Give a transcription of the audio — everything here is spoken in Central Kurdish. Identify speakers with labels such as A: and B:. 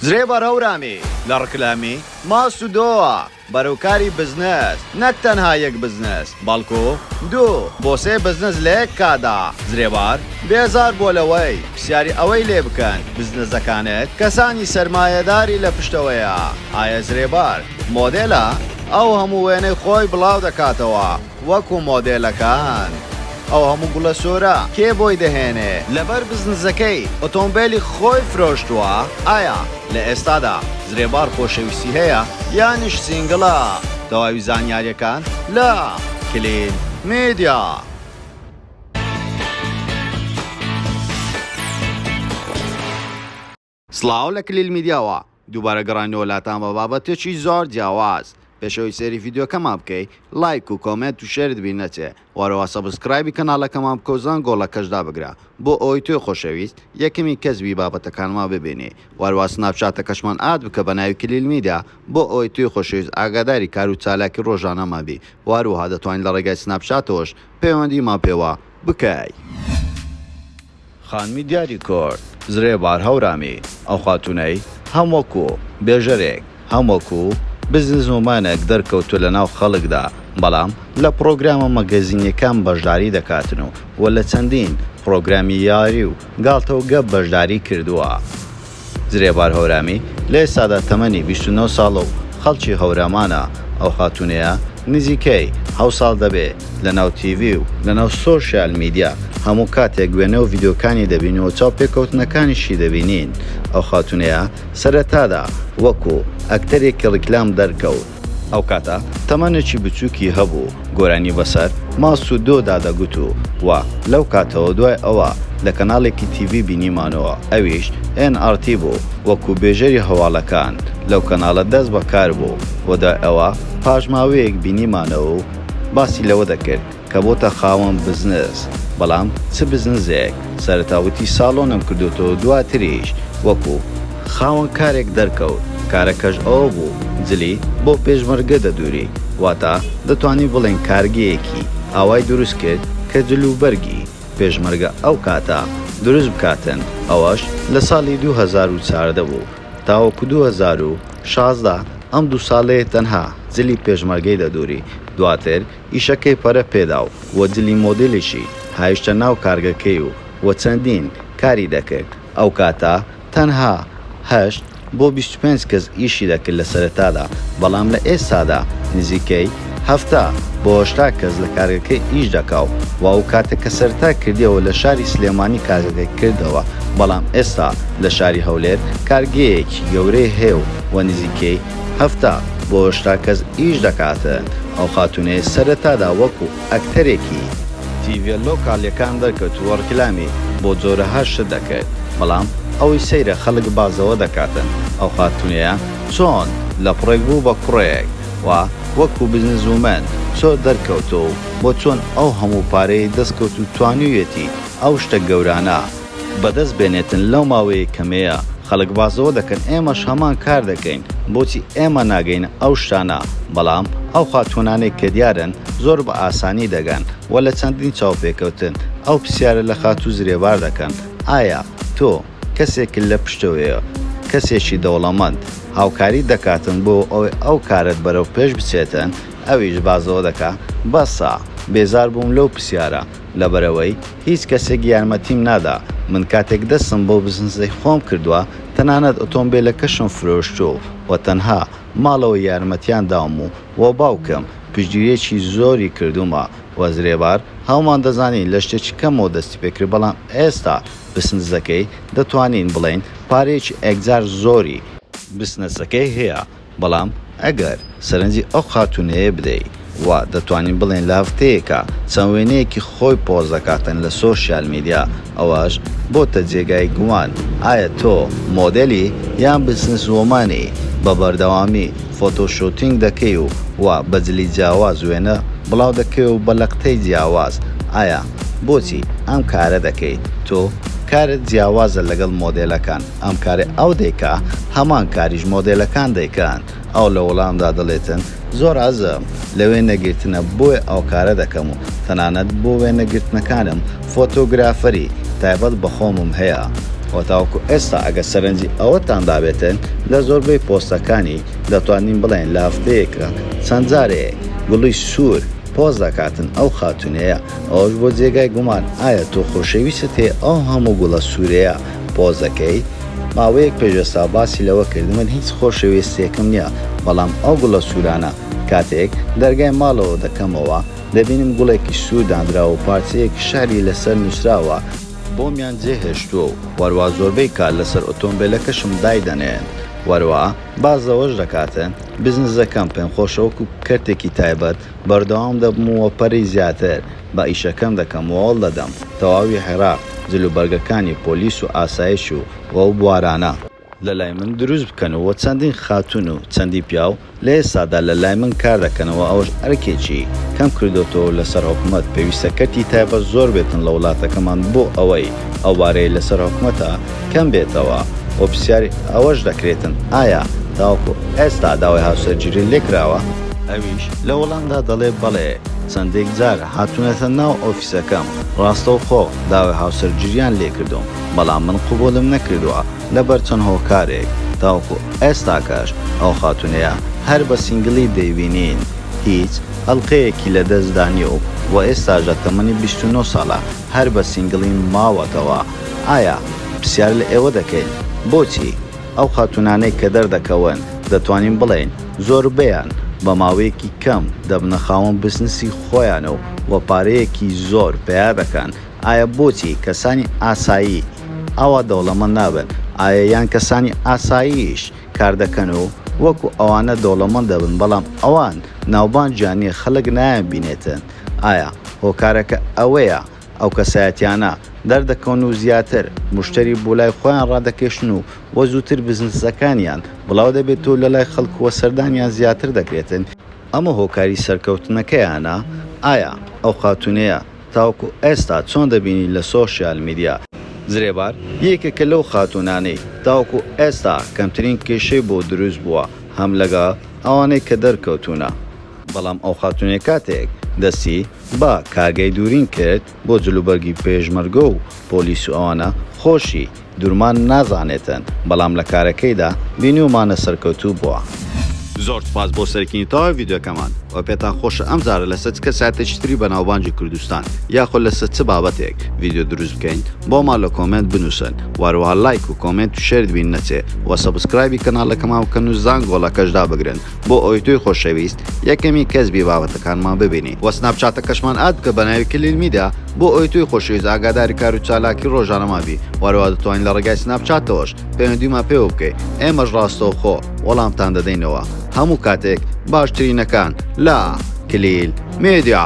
A: زرێ بەرهەورامی لە ڕکلامی ماست و دۆوە بەرەو کاری بزنس، نەک تەنها یەک بزنس بەڵکو دوو بۆ سێ بزنس لە یەک کاتدا، زرێبار بێزار بووە لەوەی پرسیاری ئەوەی لێ بکەن بزنسەکانت کەسانی سەرمایەداری لە پشتەوەیە، ئایە زرێبار مۆدێلە؟ ئەو هەموو وێنەی خۆی بڵاو دەکاتەوە. وەکو مۆدێلەکان ئەو هەموو گوڵە سورە کێ بۆی دەهێنێ لەبەر بزنزەکەی ئۆتۆمبێلی خۆی فرۆشتوە ئایا لە ئێستادا زرێبار خۆشەویستی هەیە یانیش سینگڵە تەواوی زانیاریەکان لە کلین میدیا. سڵاو لە کلیل میدیاوە، دووبارە گەڕاینەوە لاتان بە بابەتێکی زۆر جیاواز، پێش ئەوەی سەیری ڤیدیۆکەمان بکەی لایک و کۆمێنت و شێرت بیر نەچێ، وەرەوە سەبسکرایبی کەناڵەکەمان بکەو زەنگۆڵەکەش دابگرە بۆ ئەوەی تۆی خۆشەویست یەکەمین کەس بی بابەتەکانمان ببینی، وەرەوە سناپچاتەکەشمان ئاد بکە بەناوی کلیل میدیا بۆ ئەوەی تۆی خۆشەویست ئاگاداری کارو چالاکی ڕۆژانەمان بی، وەروەها دەتوانی لەڕێگای سناپچاتەوەش پەیوەندیمان پێوە بکەی. خانمی دیاری کورد، زرێبار هەورامی، ئەو خاتوونەی هەم وەکو بێژەرێک، هەم وەکو بزنسومەنێک دەرکەوتووە لە ناو خەڵکدا، بەڵام لە پڕۆگرامە مەگەزینییەکان بەشداری دەکاتن و لە چەندین پڕۆگرامی یاری و گاڵتە و گەپ بەشداری کردووە. زرێبار هەورامی لە ئێستادا تەمەنی بیست و نۆ ساڵە و خەڵکی هەورامانە، ئەو خاتوونەیە نزیکەی حەوت ساڵ دەبێ لەناو تیڤی و لەناو سۆشیال میدیا هەموو کاتێک وێنە و ڤیدیۆکانی دەبین و چاوپێکەوتنەکانیشی دەبینین، ئەو خاتوونەیە سەرەتادا وەکوو ئەکتەرێکی ڕیکلام دەرکەوت، ئەو کاتە تەمەنێکی بچووکی هەبوو، گۆرانی بەسەر، ماس و دۆ، دا دەگوت و وە لەو کاتەوە دوای ئەوە لە کەناڵێکی تیڤی بینیمانەوە ئەویش ئێن ئاڕ تی بوو وەکوو بێژەری هەواڵەکان لەو کەناڵە دەست بە کار بوو و دوای ئەوە پاش ماوەیەک بینیمانەوە و باسی لەوە دەکرد کە بۆتە خاوەن بزنس بەڵام چ بزنزێک سەرەتا وتی ساڵۆنم کردۆتەوە دواتریش وەکو خاوەن کارێک دەرکەوت کارەکەش ئەوە بوو جلی بۆ پێشمەرگە دەدوری واتا دەتوانین بڵێین کارگەیەکی ئاوای دروست کرد کە جل و بەرگی پێشمەرگە ئەو کاتە دروست بکاتن ئەوەش لە ساڵی دوو هەزار و چاردە بوو تاوەکو دوو هەزار و شازدە ئەم دوو ساڵەیە تەنها جلی پێشمەرگەی دەدوری دواتر ئیشەکەی پەرە پێدا و و جلی مۆدیلیشی هایشتە ناو کارگەکەی و و چەندین کاری دەکرد. ئەو کاتە تەنها هەشت بۆ بیست و پێنج کەس ئیشی دەکرد لە سەرەتادا، بەڵام لە ئێستادا نزیکەی هەفتا بۆ هەشتا کەس لە کارگەکەی ئیش دەکا و و ئەو کاتە کە سەرەتا کردیەوە لە شاری سلێمانی کارگەکەی کردەوە، بەڵام ئێستا لە شاری هەولێر کارگەیەکی گەورەی هەیە و و نزیکەی هەفتا بۆ هشتا کەس ئیش دەکات ئەو خاتونەیە سەرەتادا وەکو ئەکتەرێکی تیڤە لۆکالیەکان دەرکەوت و ڕیکلامی بۆ جۆرەها شت دەکرد بەڵام ئەوەی سەیرە خەڵک بازەوە دەکاتن ئەو خاتونەیە چۆن لە پڕێک بوو بە کوڕێک و وەکو بزنس وومەن چۆ دەرکەوت و بۆ چۆن ئەو هەموو پارەی دەست کەوت و توانیویەتی ئەو شتە گەورانە بەدەست بێنێتن لەو ماوەیە کەمەیە خەڵک باس لەوە دەکەن ئێمەش هەمان کار دەکەین بۆچی ئێمە ناگەینە ئەو شتانە بەڵام ئەو خاتوونانەی کە دیارن زۆر بە ئاسانی دەگەن وە لە چەندین چاوپێکەوتن ئەو پرسیارە لە خاتوو زرێبار دەکەن ئایا تۆ کەسێکت لە پشتەوەیە کەسێکی دەوڵەمەند هاوکاریت دەکاتن بۆ ئەوەی ئەو کارەت بەرەو پێش بچێتن ئەویش باس لەوە دەکا بەسە بێزار بووم لەو پرسیارە لەبەرئەوەی هیچ کەسێک یارمەتیم نادا، من کاتێک دەستم بۆ بزنزەی خۆم کردوە تەنانەت ئۆتۆمبێلەکەشم فرۆشتوە و تەنها ماڵەوە یارمەتیان داوم و بۆ باوکم پشتگیریەکی زۆری کردومە و زرێبار هەومان دەزانین لە شتێکی کەمەوە دەستی پێکرد بەڵام ئێستا بسنزەکەی دەتوانین بڵێین پارەیەکی ئێکجار زۆری بسنزەکەی هەیە. بەڵام ئەگەر سەرنجی ئەو خاتوونەیە بدەی وا دەتوانین بڵێین لاڤتەیەکە چەند وێنەیەکی خۆی پۆست دەکاتن لە سۆشیال میدیا ئەوەش بۆتە جێگای گومان ئایا تۆ مۆدێلی یان بزنس وۆمانی بە بەردەوامی فۆتۆ شۆتینگ دەکەی و وا بە جلی جیاواز وێنە بڵاو دەکەی و بە لەقتەی جیاواز ئایا بۆچی ئەم کارە دەکەی تۆ کارت جیاوازە لەگەڵ مۆدێلەکان ئەم کارەی ئەو دەیکا هەمان کاریش مۆدێلەکان دەیکەن ئەو لە وەڵامدا دەڵێتن زۆر عەزم لە وێنەگرتنە بۆیە ئەو کارە دەکەم و تەنانەت بۆ وێنەگرتنەکانم فۆتۆگرافەری تایبەت بە خۆمم هەیە و تاوەکو ئێستا ئەگەر سەرنجی ئەوەتان دابێتن لە زۆربەی پۆستەکانی دەتوانین بڵێین لە هەفتەیەکا چەند جارێک گوڵی سوور پۆست دەکاتن ئەو خاتوونەیە ئەوەش بۆ جێگای گومان ئایا تۆ خۆشەویستت هەیە ئەو هەموو گوڵە سوورەیە پۆزەکەی، ماوەیەک پێش ئێستا باسی لەوە کرد، من هیچ خۆشەویستییەکم نییە، بەڵام ئەو گوڵە سوورانە کاتێک دەرگای ماڵەوە دەکەمەوە، دەبینم گوڵێکی سوور دانراوە و پارچەیەک شیعری لەسەر نووسراوە، بۆمیان جێهێشتووە و وەروا زۆربەی کات لەسەر ئۆتۆمبێلەکەشم دایدەنێن، وەروا باس لەوەش دەکات، بزنزەکەم پێمخۆشە وەکو کەرتێکی تایبەت بەردەوام دەبم و وەپەری زیاتر، با ئیشەکەم دەکەم و هەوڵ دەدەم تەواوی عێراق جل و بەرگەکانی پۆلیس و ئاسایش و و ئەو بوارانە لە لای من دروست بکەن و چەندین خاتوون و چەندی پیاو لە ئێستادا لە لای من کار دەکەن و ئەوەش ئەرکێکی کەم کردۆتەوە و لەسەر حکومەت پێویستە کەرتی تایبەت زۆر بێتن لە وڵاتەکەمان بۆ ئەوەی ئەو بارەی لەسەر حکومەتە کەم بێتەوە و پرسیاری ئەوەش دەکرێتن ئایا تاوەکو ئێستا داوای هاوسەرگیری لێکراوە؟ ئەویش لە وەڵامدا دەڵێ بەڵێ چەندێک جار هاتونەتە ناو ئۆفیسەکەم ڕاستەوخۆ داوای هاوسەرگیریان لێکردوم بەڵام من قبوڵم نەکردوە لەبەر چەند هۆکارێک تاوەکو ئێستاکەش ئەو خاتونەیە هەر بە سینگڵی دەیبینین هیچ ئەڵقەیەکی لەدەستدا نیە و ئێستاش لە تەمەنی بیست و نۆ ساڵە هەر بە سینگڵیم ماوەتەوە. ئایا پرسیار لە ئێوە دەکەین بۆچی؟ ئەو خاتوونانەی کە دەردەکەون دەتوانین بڵێین زۆربەیان بە ماوەیەکی کەم دەبنە خاوەن بزنسی خۆیان و وە پارەیەکی زۆر پەیا دەکەن ئایا بۆچی کەسانی ئاسایی ئاوا دەوڵەمەند نابن ئایا یان کەسانی ئاساییش کار دەکەن و وەکو ئەوانە دەوڵەمەند دەبن بەڵام ئەوان ناوبانجیان نیە خەلک نایانبینێتن ئایا هۆکارەکە ئەوەیە ئەو کەسایەتیانە دەردەکەون و زیاتر موشتەری بۆ لای خۆیان ڕادەکێشن و وە زووتر بزنسەکانیان بڵاو دەبێت و لەلای خەڵک وە سەردانیان زیاتر دەکرێت، ئەمە هۆکاری سەرکەوتنەکەیانە، ئایا ئەو خاتوونەیە تاوەکو ئێستا چۆن دەبینیت لە سۆشیال میدیا؟ زرێبار، یەکێکە لەو خاتوونانەی تاوەکو ئێستا کەمترین کێشەی بۆ دروست بووە هەم لەگەڵ ئەوانەی کە دەرکەوتوونە، بەڵام ئەو خاتونەی کاتێک دەستی بە کارگەی دورین کرد بۆ جل و بەرگی پێشمەرگە و پۆلیس و ئەوانە خۆشی دورمان نازانێتن بەڵام لە کارەکەیدا بینیومانە سەرکەوتوو بوە. زۆر سوپاس بۆ سەرکینی تەواوی ڤیدیۆکەمان وە پێتان خۆشە ئەم جارە لەسەر چ کەسایەتێکی تری بەناوبانگی کوردستان یاخۆ لەسەر چ بابەتێک ڤیدیۆ دروست بکەین بۆمان لە کۆمێنت بنوسن وە هەروەها لایک و کۆمێنت و شێرت بیر نەچێ وە سەبسکرایبی کەناڵەکەمان بکەن و زانگۆڵەکەش دابگرن بۆ ئەوەی تۆی خۆشەویست یەکەمی کەس بی بابەتەکانمان ببینی وە سناپ چاتەکەشمان ئاد بکە بە ناوی کلیل میدیا بۆ ئەوەی تۆی خۆشەویست ئاگاداری کار و چالاکی ڕۆژانەمان بی وە هەروەها دەتوانی لە ڕێگای سناپ چاتەوەش پەیوەندیمان پێوە بکەی ئێمەش ڕاستەوخۆ وەڵامتان دەدەینەوە هەموو کاتێک باشترینەکان لە کلیل میدیا.